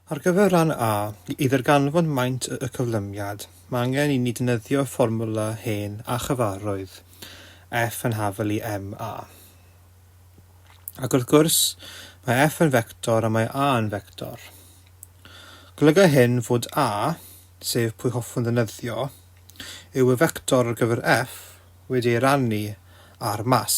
Ar gyfer rhan A, i ddarganfod maint y cyflymiad, mae angen i ni ddefnyddio fformwla hen a chyfarwydd, F yn hafel i MA. Ac wrth gwrs, mae F yn fector a mae A yn fector. Golyga hyn fod A, sef pwy hoffwn ddefnyddio, yw y fector ar gyfer F wedi ei rannu ar mas.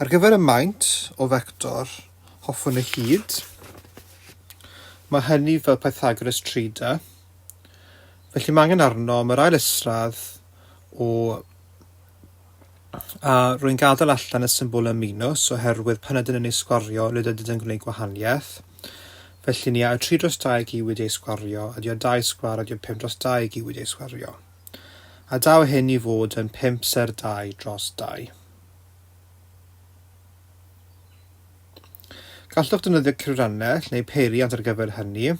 Ar gyfer y maint o fector, hoffwn y hyd, mae hynny fel Pythagoras Trida, felly mae angen arnom yr ail isradd o a rwy'n gadael allan y symbol y minws oherwydd pan ydyn yn ei sgwario nid ydyn yn gwneud gwahaniaeth. Felly ni a y 3 dros 2 giwyd ei sgwario, ydy o 2 sgwar ydy o 5 dros 2 giwyd ei sgwario. a daw hyn i fod yn pump ser dau dros dau. Gallwch defnyddio cyfrannell neu peiriant ar gyfer hynny,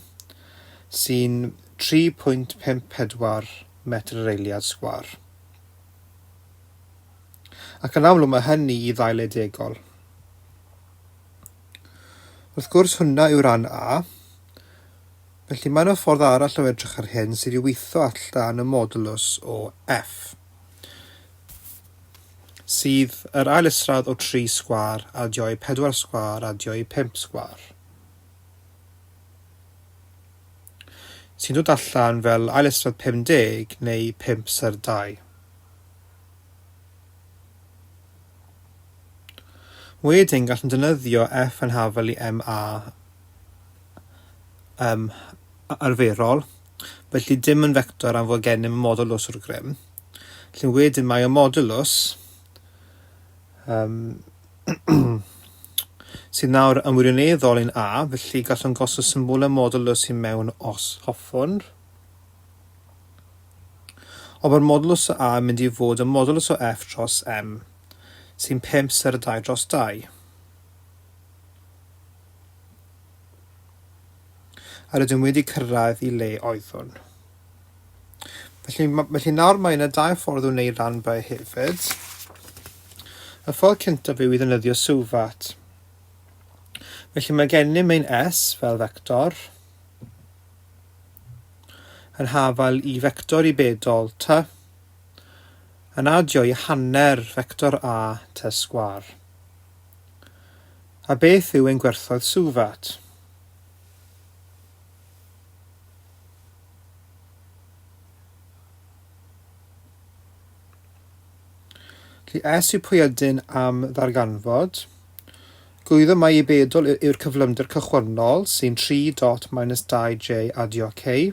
sy'n 3.54 metr yr eiliad sgwar. Ac yn amlwg mae hynny i ddail edegol. Wrth gwrs hwnna yw ran A, Felly, mae yna ffordd arall o edrych ar hyn, sef i weithio allan y modulus o F, sydd yr ail isradd o 3 sgwâr adio i 4 sgwâr adio i 5 sgwâr, sy'n dod allan fel ail isradd 50 neu 5 ser 2. Wedyn, gallwn defnyddio F yn hafel i MA yym arferol, felly dim yn fector am fod gennym y modulws o'r grym. Felly wedyn mae y modulws yym sydd nawr yn wirioneddol yn A, felly gallwn gosod symbol y modulws i mewn os hoffwn. Ond mae'r modulws o A yn mynd i fod y modulws o F dros M, sy'n 5 ser y 2 dros 2. A rydym wedi cyrraedd i le oeddwn. Felly, felly nawr mae yna dau ffordd o wneud rhanbau hefyd. Y ffordd cyntaf yw i ddynyddio sylfat. Felly mae gennym ein S fel vector yn hafal i vector i bedol T yn adio i hanner vector A T sgwar. A beth yw ein gwerthoedd Suvat? Felly, es yw pwy ydyn am ddarganfod. Gwyddo mai i bedol yw'r cyflymder cychwynnol sy'n 3 dot minus 2j adio k.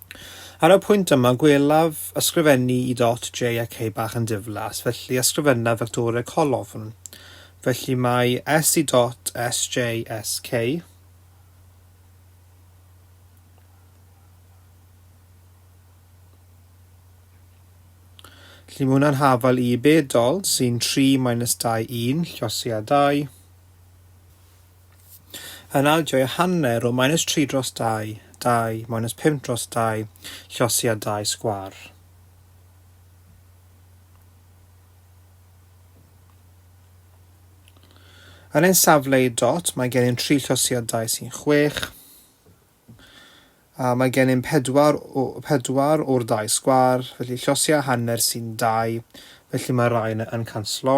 Ar y pwynt yma, gwelaf ysgrifennu i dot J ac E bach yn diflas, felly ysgrifenna Victoria Colofn. Felly mae S i dot S, J, S, K. Felly mae hwnna'n hafal i bedol, sy'n 3 minus 2, 1, llosi a 2. Yn adio ei hanner o minus tri dros dau, dau, minus pump dros dau, llosi a dau sgwâr. Yn ein safle i dot, mae gen i'n tri llosiadau sy'n chwech. A mae gen i'n pedwar, pedwar o'r dau sgwar, felly llosi a hanner sy'n dau, felly mae rai yna yn canslo.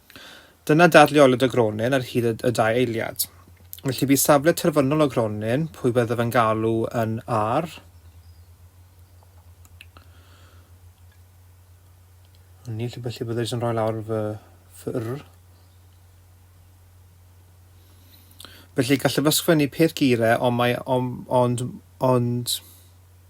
Dyna dadleoliad y gronyn ar hyd y dau eiliad. Felly bu safle terfynol y gronyn, pwy byddaf yn galw yn ar? Ni, felly byddai jyst yn rhoi lawr fy ffyrr. Felly gallaf ysgrifennu peth geiriau ond mae ond ond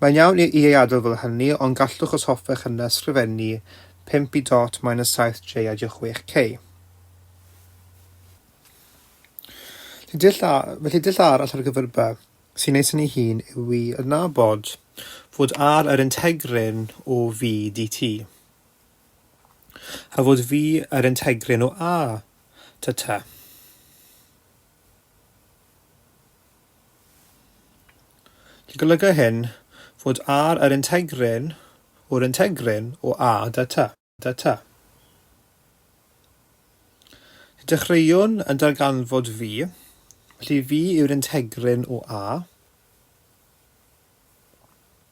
Mae'n iawn i ei adael fel hynny, ond gallwch os hoffech yna ysgrifennu 5 i dot minus 7 j a j 6 k. Felly dull, a, felly dull arall ar gyfer by sy'n neis yn ei hun yw i adnabod fod ar yr integryn o V dt a fod V yr integryn o A ta ta. Ti'n golygu hyn fod ar yr integryn o'r integryn o A da ta, da ta. Y dechreuwn yn darganfod fi, felly fi yw'r integryn o A.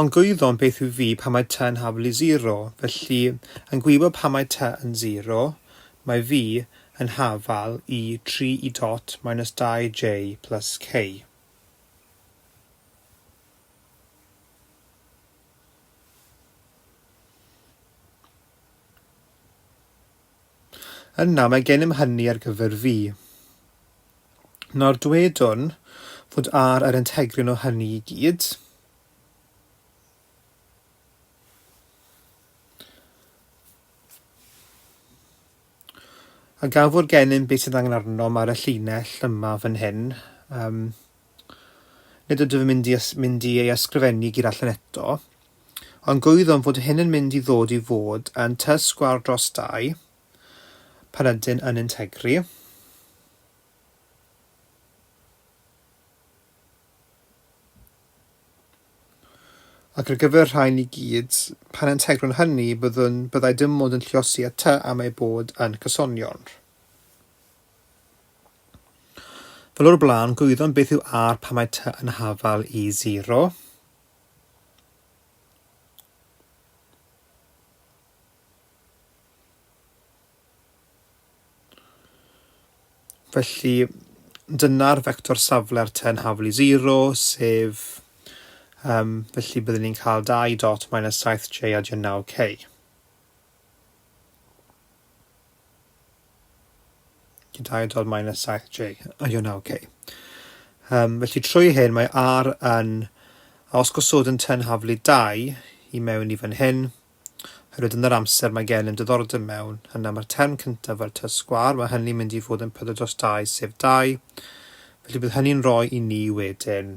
Ond gwyddom beth yw V pan mae T yn haflu zero, felly, yn gwybod pan mae T yn zero, mae V yn hafal i 3 E dot minus 2 J plus K. Yna mae gennym hynny ar gyfer fi. Nawr dwedwn fod ar yr entegrion o hynny i gyd. A gafwr gennym beth sydd angen arnom ar y llinell yma fan hyn. Um, Nid ydw i'n mynd i mynd i ei ysgrifennu gur allan eto, ond gwyddom fod hyn yn mynd i ddod i fod yn tŷ sgwâr dros dai, pan ydyn yn integri. Ac ar gyfer rhain i gyd, pan integrwn hynny, byddwn, byddai dim ond yn lliosi y tŷ am ei bod yn cysonion. Fel o'r blaen, gwyddom beth yw R pan mae T yn hafal i 0. Felly, dyna'r fector safle'r ten hafl i 0, sef... Um, felly byddwn ni'n cael 2 dot minus 7j a 9k. Gyda'i dod mae'n y 7J, a yw 9K. Um, felly trwy hyn mae R yn, a os gosod yn tenhaflu 2 i mewn i fan hyn, hyrwyd yn yr amser mae gen yn diddordeb mewn, yna mae'r term cyntaf fel tŷ sgwar, mae hynny'n mynd i fod yn 4 dros 2 sef 2, felly bydd hynny'n rhoi i ni wedyn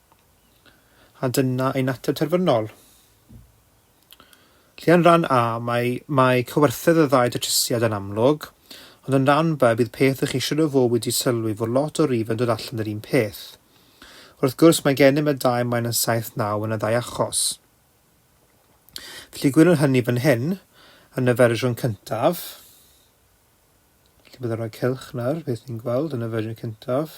A dyna ein ateb terfynol. Felly yn rhan A, mae, mae cywerthedd y ddau datrysiad yn amlwg, ond yn rhan B, bydd peth ych eisiau iddo fo wedi sylwi fod lot o rifyn dod allan yr un peth. Wrth gwrs, mae gennym y dau maen yn 7-9 yn y ddau achos. Felly gwylwn hynny fan hyn, yn y fersiwn cyntaf. Felly byddwn rhoi cylch nawr, beth ni'n gweld yn y fersiwn cyntaf.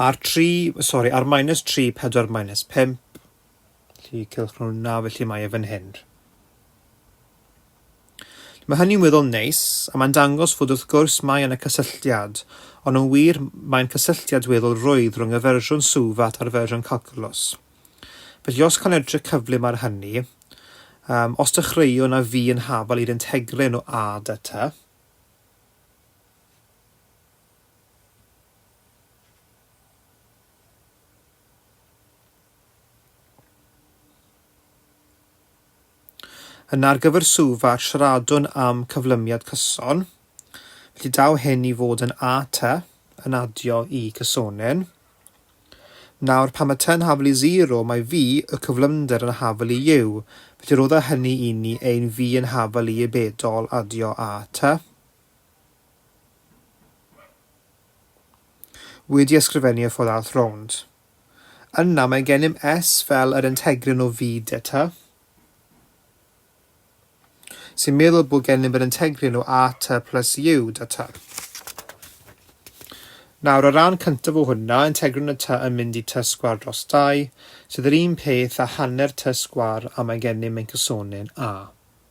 Ar 3, sori, ar minus 3, 4 minus 5, felly cylch nhw na, felly mae e fan hyn. Mae hynny'n weddol neis, a mae'n dangos fod wrth gwrs mae yna cysylltiad, ond yn wir mae'n cysylltiad weddol rwydd rhwng y fersiwn Suvat a'r fersiwn Calculus. Felly os cael edrych cyflym ar hynny, um, os dechreuwn a fi yn hafal i'r integrin o a da ta, Yna ar gyfer Suva, siaradwn am cyflymiad cyson. Felly daw hyn i fod yn a ty yn adio i cysonyn. Nawr, pan mae ty'n hafel i 0, mae fi, y cyflymder, yn hafel i yw. Felly rodda hynny i ni ein fi yn hafel i y bedol adio a ty. Wedi ysgrifennu y fodd all rownd. Yna mae gennym S fel yr integrin o V deta, sy'n meddwl bod gennym yr integrin o AT plus U deta. Nawr, o ran cyntaf o hwnna, integrin y ty yn mynd i ty sgwar dros 2, sydd yr un peth a hanner ty sgwar a mae gennym ein cysonin A.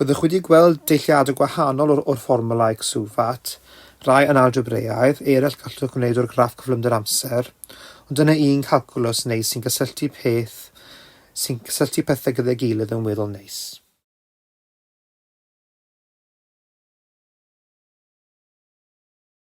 Byddwch wedi gweld deilliadau gwahanol o'r o'r fformwlau CSUFAT, rai yn algebreaidd, eraill gallwch wneud o'r graff cyflymder amser, ond dyna un calcwlws neis sy'n cysylltu peth sy'n cysylltu pethau gyda'i gilydd yn weddol neis.